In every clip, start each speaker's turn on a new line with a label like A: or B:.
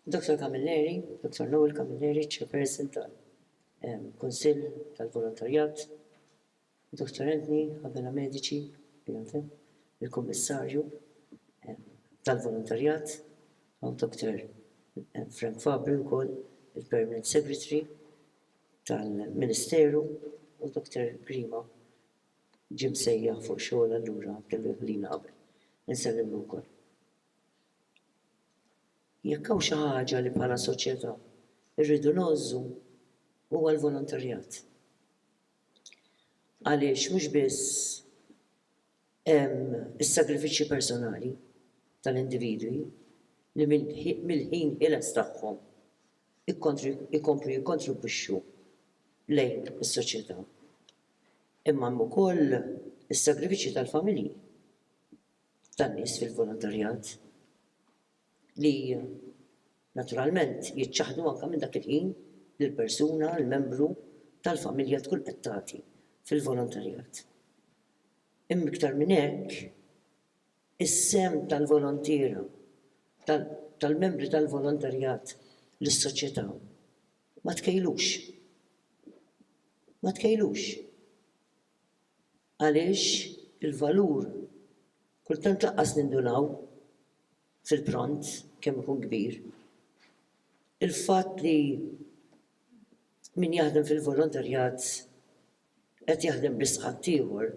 A: Dr. Camilleri, Dr. Noel Camilleri, Chairperson tal-Kunsill tal-Volontarjat, Dr. Anthony Havela Medici, il-Kummissarju tal-Volontarjat, u Dr. Frank Fabri wkoll, il-Permanent Secretary, tal-Ministeru u Dr. Grima ġie msejjaħ fuq xogħol allura kellu jħallina qabel. Insellmlu wkoll. Jekk hawn xi ħaġa li bħala soċjetà rridu ngħożżu huwa l-volontarjat. Għaliex mhux biss is-sagrifiċċji personali tal-individwi li mill-ħin ħieles tagħhom ikomplu jikkontribwixxu lejn is-soċjetà. Imma hemm ukoll is-sagrifiċċji tal-familji tan-nies fil-volontarjat. li naturalment jiċċaħħdu anke minn dak il-ħin li l-persuna, l-membru tal-familja tkun qed tagħti fil-volontarjat. Imma iktar minn hekk, is-sehem tal-volontiera, tal-membri tal-volontarjat lis-soċjetà ma tkejjlux. Ma tkejjlux. Għaliex il-valur, kultant lanqas nindunaw fil-pront kemm ikun kbir. Il-fatt li min jaħdem fil-volontarjat qed jaħdem biss ħaddieħor,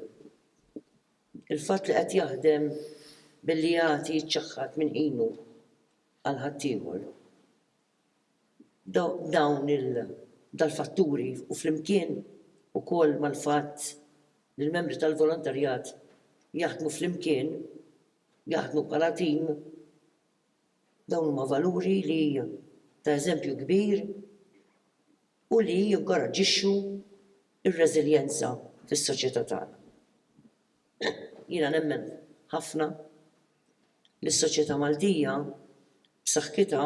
A: il-fatt li qed jaħdem billi jagħti jiċċaħħad minn ħinu għal ħaddieħor. Dawn il-fatturi u flimkien ukoll mal-fatt li l-membri tal-volontarjat jaħdmu flimkien, jaħdmu bħala tim, dawn huma valuri li ta' eżempju kbir u li jinkoraġġixxu r-reżiljenza fis-soċjetà tagħna. Jiena nemmen ħafna. li s-soċjetà Maltija b'saħħitha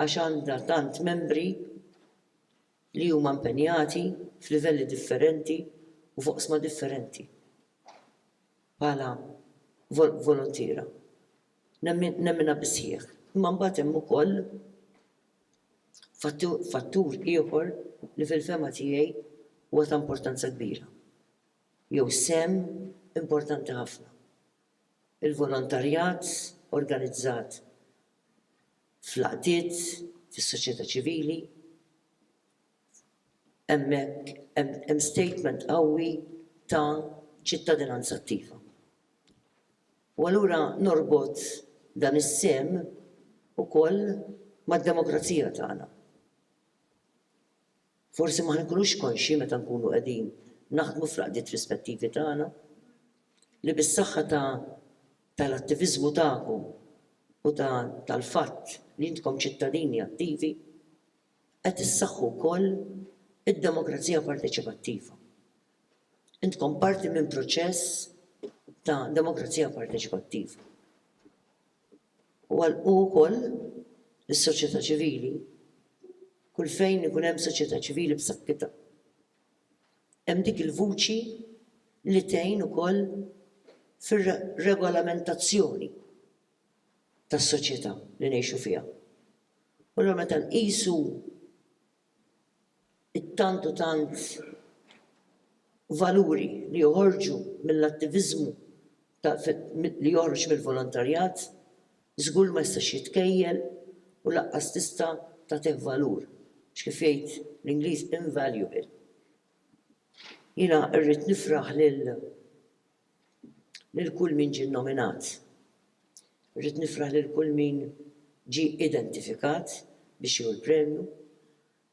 A: għax għandha tant membri li huma impenjati f'livelli differenti u f'oqsma differenti bħala voluntiera. Nemminha bis-sħiħ. Imma mbagħad hemm ukoll fattur ieħor li fil-fehma tiegħi huwa ta' importanza kbira. jew sehem importanti ħafna. Il-volontarjat organizzat fl-għaqdiet, fis-soċjetà ċivili, hemmhekk hemm statement qawwi ta' ċittadinanza attiva. U allura norbot dan is-sehem ukoll mad-demokrazija tagħna. Forsi ma nkunux konxji meta nkunu qegħdin naħdmu fl-għaqdiet rispettivi tagħna li bis-saħħa ta' tal-attiviżmu tagħkom u ta' tal-fatt li intkom ċittadini attivi qed issaħħu wkoll id-demokrazija parteċipattiva. Intkom parti minn proċess ta' demokrazija parteċipattiva. u għalqu wkoll lis-soċjetà ċivili kull fejn ikun hemm soċjetà ċivili b'saħħitha hemm dik il-vuċi li tgħin ukoll fir-regolamentazzjoni tas-soċjetà li ngħixu fiha. U allura meta nqisu it-tant u tant valuri li joħorġu mill-attiviżmu ta' li joħroġ mill-volontarjat, żgur li ma jistax jitkejjel u lanqas tista' tagħtih valur, għax kif jgħid l-Ingliż invaluable. Jiena rrid nifraħ lil. lil kull min ġie nominat. Irrid nifraħ lil kull min ġie identifikat biex jieħu l-premju,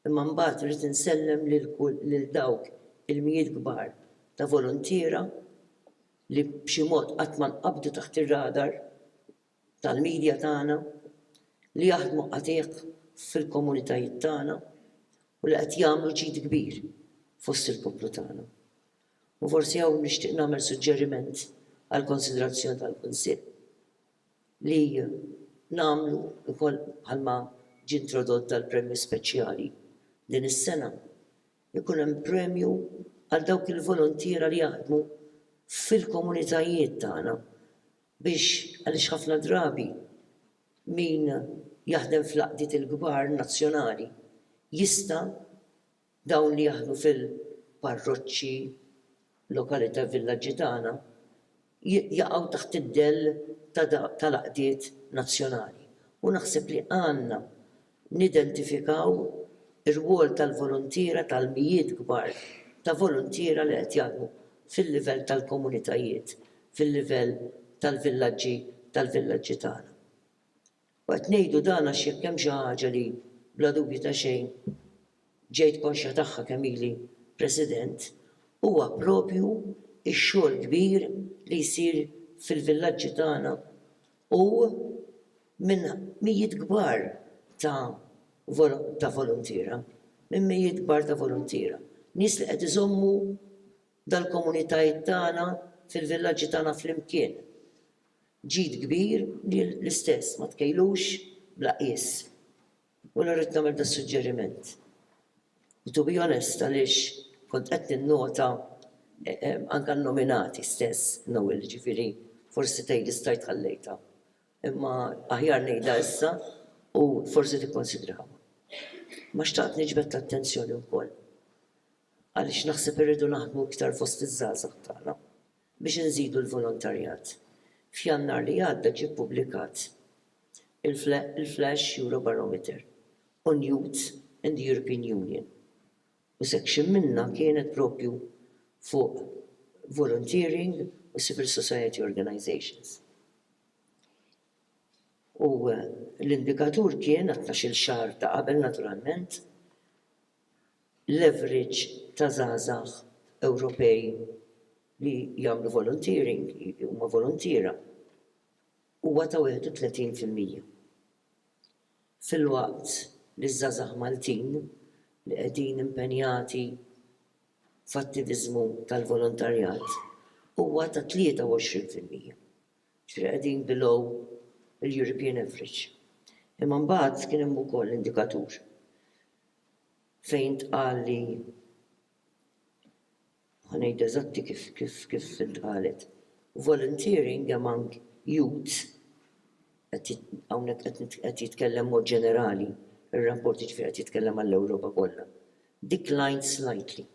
A: imma mbagħad irrid insellem lil dawk il-mijiet kbar ta' voluntiera li b'xi mod qatt ma nqabdu taħt ir-radar tal-media tagħna, li jaħdmu qatigħ fil-komunitajiet tagħna u li qed jagħmlu ġid kbir fost il-poplu tagħna. U forsi hawn nixtieq nagħmel suġġeriment għall-konsiderazzjoni tal-Kunsill, li nagħmlu wkoll bħalma ġie introdott dal-premju speċjali din is-sena, ikun hemm premju għal dawk il-voluntiera li jaħdmu fil-komunitajiet tagħna biex, għaliex ħafna drabi min jaħdem fl-għaqdiet il-kbar nazzjonali jista', Dawn li jaħdmu fil-parroċċi, lokalita' villaġġi tagħna jaqgħu taħt id-dell tal-għaqdiet nazzjonali u naħseb li għandna nidentifikaw ir-rwol tal-voluntiera tal-mijiet kbar ta' voluntiera li qed jaħdmu fil-livell tal-komunitajiet, fil-livell tal-villaġġi tal-villaġġi tagħna. U qed ngħidu dan għax jekk hemm xi ħaġa li, bla dubju ta' xejn, ġejt konxja tagħha kemm ili President, huwa proprju x-xogħol kbir li jsir fil-villaġġi tagħna u minn mijiet kbar ta' ta' voluntiera, minn mijiet kbar ta' voluntiera, nies li qed iżommu dal-komunitajiet tagħna fil-villaġġi tagħna flimkien. Ġid kbir li l-istess ma tkejlux bla qies. U allura rrid nagħmel das-suġġeriment. U to be honest għaliex kont qed ninnota anke n-nominati stess, Noel, ġifieri forsi tgħidli stajt ħallejtha. Imma aħjar ngħidha issa u forsi tikkunsidraha. Imma xtaqt niġbed l-attenzjoni wkoll għaliex naħseb irridu naħdmu iktar fost iż-żgħażagħ tagħna. biex inżidu l-volontarjat. F'Jannar li għadda ġie ppubblikat il-Flash Eurobarometer on Youth in the European Union u section minnha kienet proprju fuq volunteering u civil society organisations u l-indikatur kien għat-tnax-il xahar ta' qabel naturalment l-average ta' żgħażagħ Ewropej li jagħmlu volunteering, li huma voluntiera, huwa ta' 31 fil-mija. Filwaqt li ż-żgħażagħ Maltin li qegħdin impenjati f'attiviżmu tal-volontarjat huwa ta' 23 fil-mija. Ġifieri qegħdin below il-European average. Imma mbagħad kien hemm ukoll indikatur fejn tqal li ħa ngħid eżatti kif kif kif intqalet volunteering among youths qed hawnhekk qed nit qed jitkellem b'mod ġenerali r-rapport jiġifieri qed jitkellem għall-Ewropa kollha declined slightly.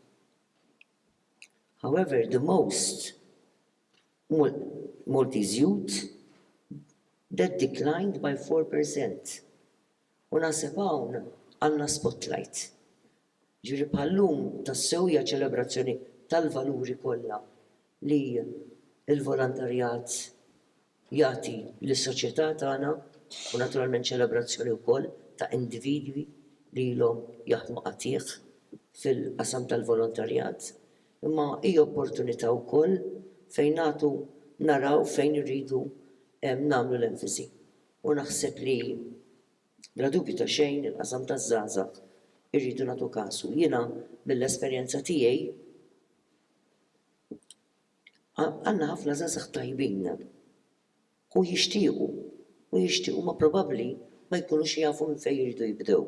A: However, the most Mal Maltese youth that declined by 4%. U naħseb hawn għandna spotlight. Jiġifieri bħal-lum tassew hija ċelebrazzjoni tal-valuri kollha li l-volontarjat jagħti lis-soċjetà tagħna u naturalment ċelebrazzjoni wkoll ta' individwi li ilhom jaħdmu qatigħ fil-qasam tal-volontarjat. Imma hija opportunità wkoll fejn nagħtu naraw fejn irridu nagħmlu l-enfasi. U naħseb li, bla dubju ta' xejn, il-qasam taż-żgħażagħ irridu nagħtu kasu. Jiena mill-esperjenza tiegħi għandna ħafna żgħażagħ tajbin u jixtiequ u jixtiequ imma probabbli ma jkunux jafu minn fejn iridu jibdew.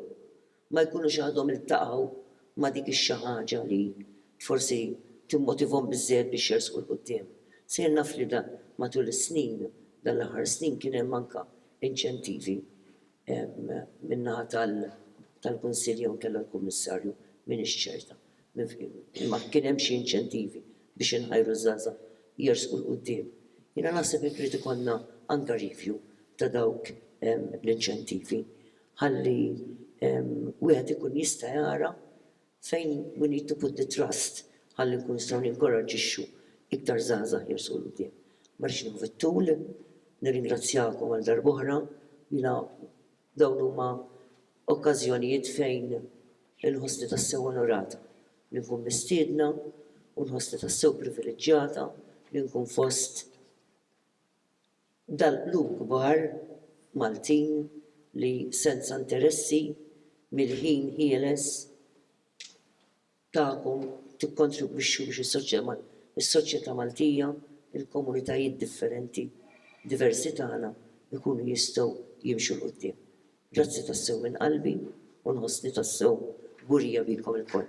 A: ma jkunux għadhom iltaqgħu ma' dik ix-xi ħaġa li forsi timmotivhom biżżejjed biex jersqu 'l quddiem. Sejjer naf li da matul is-snin, dan l-aħħar snin kien hemm anke inċentivi min-naħa tal-Kunsill jew inkella l-Kummissarju, m'iniex ċerta, imma kien hemm xi inċentivi biex inħajru ż-żgħażagħ jersqu 'l quddiem. Jiena naħseb jekk irid ikollna anke review ta' dawk l-inċentivi. ħalli wieħed ikun jista' jara fejn we need to put the trust ħalli nkunu nistgħu ninkoraġġixxu iktar żgħażagħ jimxu 'l quddiem. Ma rridx nieħu fit-tul, nirringrazzjakom għal darb'oħra, jiena dawn huma okkażjonijiet fejn inħossni tassew onorata li nkun mistiedna u nħossni tassew priviliġġjata li nkun fost dal-qlub kbar Maltin li senza interessi mill-ħin ħieles tagħkom tikkontribwixxu biex is-soċjetà Maltija, il-komunitajiet differenti diversi tagħna jkunu jistgħu jimxu 'l quddiem. Grazzi tassew minn qalbi u nħossni tassew kburija bikom ilkoll.